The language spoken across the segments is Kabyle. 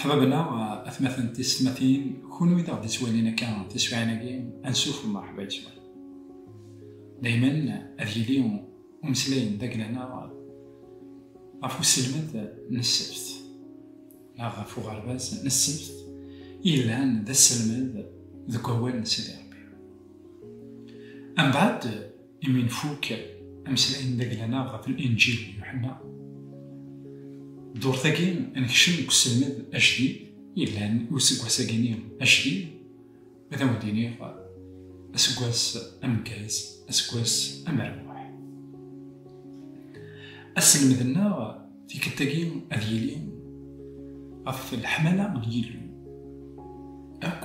Ḥbabna, atmaten tisetmatin, kunwi d aɣ-d-ittwalin akka tiswiɛin-agi, ansuf umerḥba yes-wen. Daymen ad yili umeslay n tagla-nneɣ ɣef uselmed n ssebt, neɣ ɣef uɣerbaz n ssebt i yellan d aselmed deg wawal n Sidi Rebbi. Ambaɛd, Imi nfuk ameslay n Dagla-nneɣ ɣef Linǧil n Yuḥenna, ddurt-agi nekcem deg uselmed ajdid yellan i useggas-agi-nni ajdid, ad awen-d-iniɣ aseggas ameggaz, aseggas amerbuḥ. Aselmed-nneɣ tikkelt-agi ad yili ɣef leḥmala n Yillu akk.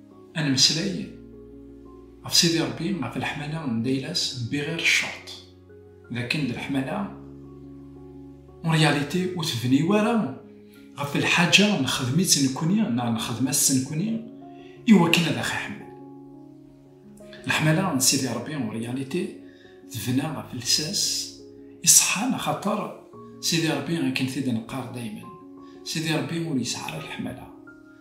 Ad nemmeslay ɣef Sidi Ṛebbi, ɣef leḥmala n Daylas n Biɣir Ccerṭ, d akken d leḥmala en réalité ur tebni wara ɣef lḥaǧa nexdem-itt nekkni neɣ nexdem-as-tt nekkni i wakken ad aɣ-iḥemmel. Leḥmala n Sidi Ṛebbi en réalité tebna ɣef lsas iṣeḥḥan axaṭer Sidi Ṛebbi akken tid-neqqar daymen Sidi Ṛebbi ur yesɛi ara leḥmala.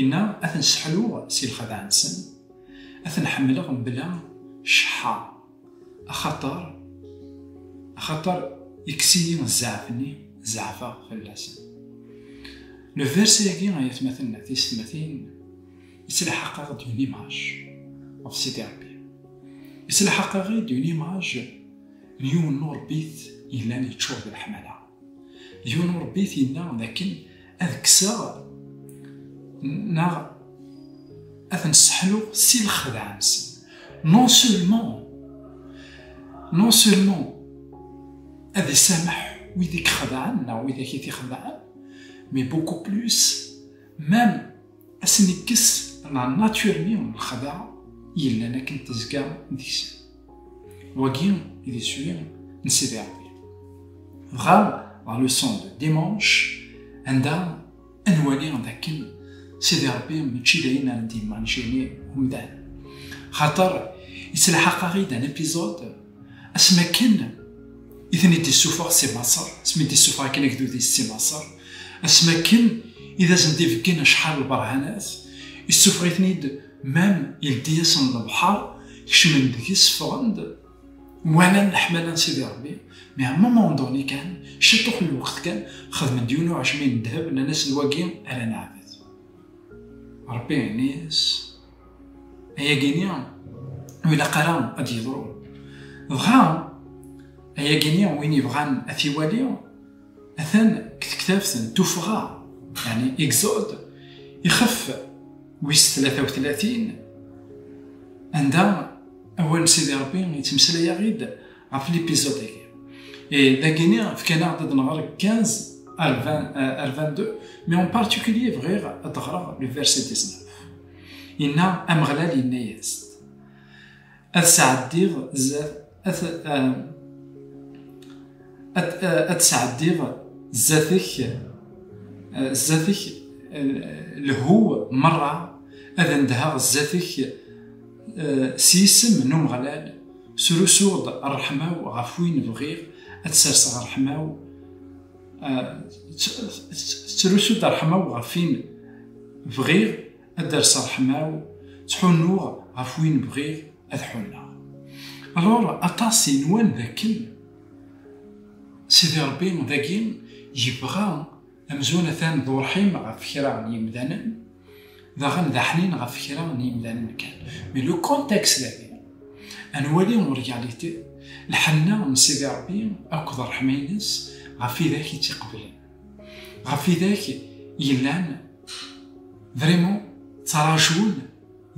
Inna, ad ten-sseḥluɣ si lxadeɛ-nsen, ad ten-ḥemmleɣ mebla cceḥḥa, axaṭer, axaṭer ikkes-iyi zzeɛf-nni, zeɛfeɣ fell-asen. Le verset-agi, ay atmaten d teysetmatin, yettlḥaq-aɣ-d une image ɣef Sidi Ṛebbi. Yettlḥaq-aɣ-id une image n yiwen n uṛebbit yellan yeččur d leḥmala. Yiwen urebbi t-yenna dakken ad kkseɣ neɣ ad ten-sseḥluɣ si lexdeɛ-nsen. Non seulement, non seulement ad isameḥ wid i ixedɛen neɣ wid i t-ixedɛen, mais beaucoup plus, même Ad sen-ikkes la nature-nni n lexdeɛ yellan akken tezga deg-sen. Wagi i d iswi n Sidi Rebbi. Dɣa la leçon de dimanche anda ad nwali d akken Sidi Rebbi mačči d ayen ara d-immanjini umdan. Xaṭer, yettlaḥaq-aɣ-id un épisode Asmi akken i ten-id-issufeɣ si Maṣer, asmi d-issufeɣ akken agdud-is si Maṣer, asmi akken i d asen-d-ibeggen acḥal lberhanat, issufeɣ-iten-id mem yeldi-yasen lebḥer, kecmen deg-s, ffɣen-d, walan leḥmala n Sidi Ṛebbi, mais à un moment donné kan, ciṭuḥ n lweqt kan, xedmen-d yiwen uɛejmi n ddheb, nnan-asen wagi ara neɛbed Ṛebbi-ines. ayagi-nni ur ilaq ara ad d-yeḍru dɣa ayagi-nni win yebɣan ad t-iwali atan deg tektabt n tuffɣa yani exode ixef wis 33 anda awal n sidi rebbi yettmeslay-aɣ-id ɣef l'épisode agi et dagini fkan-aɣ-d ad nɣer 15 ar 20 ar 22 mais en particulier bɣiɣ ad ɣreɣ le verset 19 inna Ameɣlal yenna-yas ad sɛeddiɣ zat ad ad sɛeddiɣ zat-ek zat-ek lhu merra ad ndheɣ zat-ek Eh, s yisem n Umeɣlal, srusuɣ-d ṛṛeḥma-w ɣef win bɣiɣ ad serseɣ ṛṛeḥma-w, eh, tettrusu-d ṛṛeḥma-w ɣef win bɣiɣ ad derseɣ ṛṛeḥma-w, ttḥunnuɣ ɣef win bɣiɣ ad ḥunneɣ. Alors, aṭas inwan dakken Sidi Ṛebbi dagi yebɣa Amzun atan d urḥim ɣef kra n yimdanen, daɣen d aḥnin ɣef kra n yimdanen kan. Mais le contexte dagi, ad nwali en réalité lḥenna n Sidi Ṛebbi akked ṛṛeḥma-ines ɣef widak i tt-iqeblen, ɣef widak yellan vraiment ttraǧun,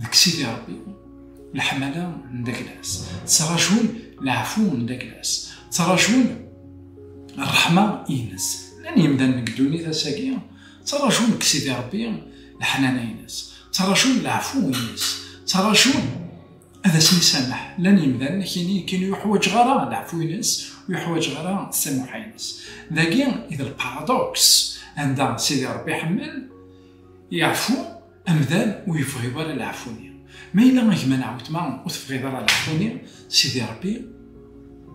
Deg Sidi Ṛebbi, leḥmala n Daglas, ttraǧun leɛfu n Daglas, ttraǧun ṛṛeḥma ines. Llan yemdanen deg ddunit ass-agi, ttraǧun deg Sidi Ṛebbi leḥnana ines, ttraǧun leɛfu ines, ttraǧun ad asen-isameḥ. Llan yemdanen akini akken ur yuḥwaǧeɣ ara leɛfu ines, ur yuḥwaǧeɣ ara tsamuḥa ines. Dagi i d lparadoks, anda Sidi Ṛebbi iḥemmel, iɛfu, Amdan ur yebɣiḍ ara leɛfu-nni. Ma yella a gma neɣ weltma ur tebɣiḍ ara leɛfu-nni, Sidi Rebbi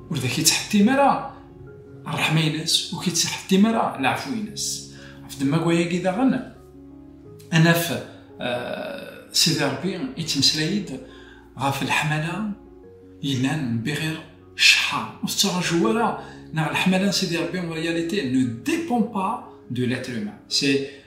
ur d ak-ittḥettim ara ṛṛeḥma-ines, ur k-ittḥettim ara leɛfu-ines. Ɣef ddemma-agi daɣen, ad naf Sidi Rebbi yettmeslay-d ɣef leḥmala yellan n Biɣir Cceḥḥa. Ur tettraǧu ara neɣ leḥmala n Sidi Rebbi en réalité ne dépend pas de l'être humain. C'est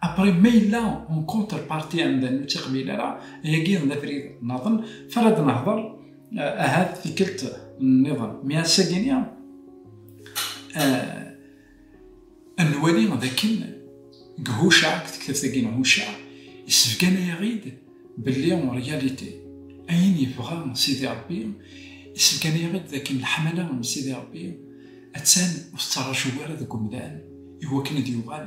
Après ma yella en contre partie amdan ur tt-iqbil ara, ayagi d abrid naḍen, f ara d-nehder ahat tikkelt nniḍen. Mi assagini ad nwali d akken deg Hucaɛ, deg tektabt-agi n Hucaɛ, yessebgana-yaɣ-id belli en réalité ayen yebɣa Sidi Ṛebbi, yessebgana-yaɣ-id d akken leḥmala n Sidi Ṛebbi attan ur tettṛaju ara deg umdan i wakken ad yuɣal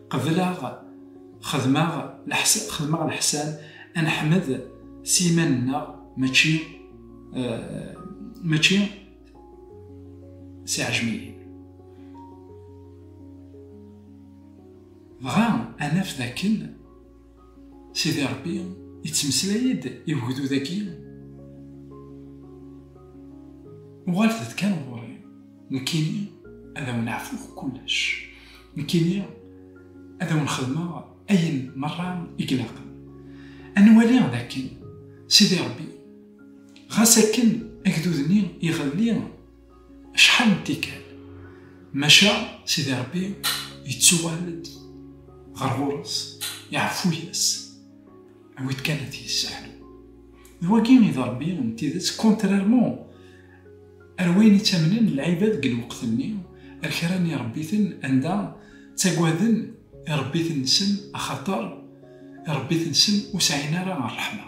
Qebleɣ xedmeɣ xedmeɣ leḥsan ad neḥmed s yiman-nneɣ mačči mačči s iɛejmiyen. Dɣa ad naf dakken. Sidi Ṛebbi yettmeslay-d i wegdud-agi, Uɣalet-d kan ɣur-i, nekkini ad awen-ɛfuɣ kullec, nekkini ad awen-xedmeɣ ayen meṛṛa i ilaqen. Ad nwali d akken Sidi Ṛebbi, ɣas akken agdud-nni iɣelli, Acḥal n tikkal, maca Sidi Ṛebbi yettuɣal-d ɣer ɣur-s, iɛeffu-yas, awi-d kan ad t-yesseḥlu. D wagi i d Ṛebbi n tidet, contrairement ar wayen i ttamnen lɛibad deg lweqt-nni, ar kra n iṛebbiten anda ttagaden iṛebbiten-nsen axaṭer iṛebbiten-nsen ur sɛin ara ṛṛeḥma.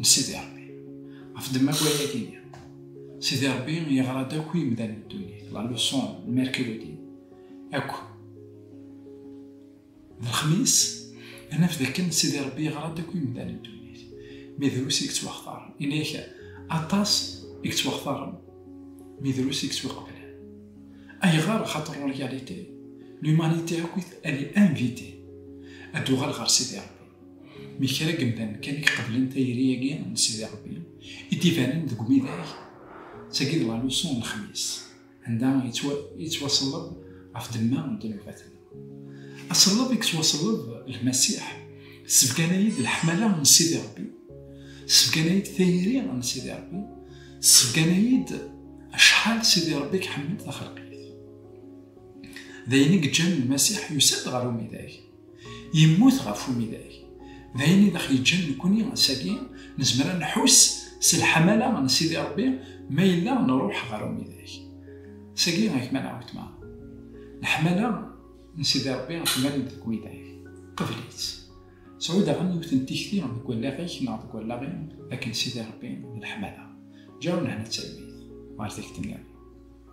n Sidi Ṛebbi. Ɣef ddemma akk waya i d-yenna, Sidi Ṛebbi yeɣra-d akk i yimdanen n ddunit, la leçon n Mercredi akk. D lexmis, ad naf d akken Sidi Ṛebbi yeɣra-d akk i yimdanen n ddunit, mi drus i yettwaxtaren, yenna-ak aṭas i yettwaxtaren, mi drus i yettwiqeblen. Ayɣer? Axaṭer en réalité, l'humanité akk-it elle est invitée ad d-tuɣal ɣer Sidi Ṛebbi. Mi kra n yemdanen kan i iqeblen tayri-agi n Sidi Ṛebbi i d-ibanen deg umidag, d tagi d laluṣu n Lexmis, anda yettwaṣelleb ɣef ddemma n ddnubat-nneɣ. Aṣelleb i yettwaṣelleb Lmasiḥ, tessebgan-ay-id leḥmala n Sidi Ṛebbi, tessebgan-ay-id tayri n Sidi Ṛebbi, tessebgan-ay-id acḥal Sidi Ṛebbi i iḥemmel taxelqit. D ayen i yeǧǧan Lmasiḥ yusa-d ɣer umidag. Yemmut ɣef umidag. D ayen i d aɣ-yeǧǧan nekkni ass-agi nezmer ad nḥuss s leḥmala n Sidi Ṛebbi ma yella nṛuḥ ɣer umidag. Sagi i gma neɣ wetma. Leḥmala n Sidi Ṛebbi temmal-d deg umidag. Qbel-itt. Sɛu daɣen yiwet n tikti deg wallaɣ-ik neɣ deg wallaɣ-im akken Sidi Ṛebbi d leḥmala. Ǧǧa nnehna d talwit ɣer takti-nniḍen.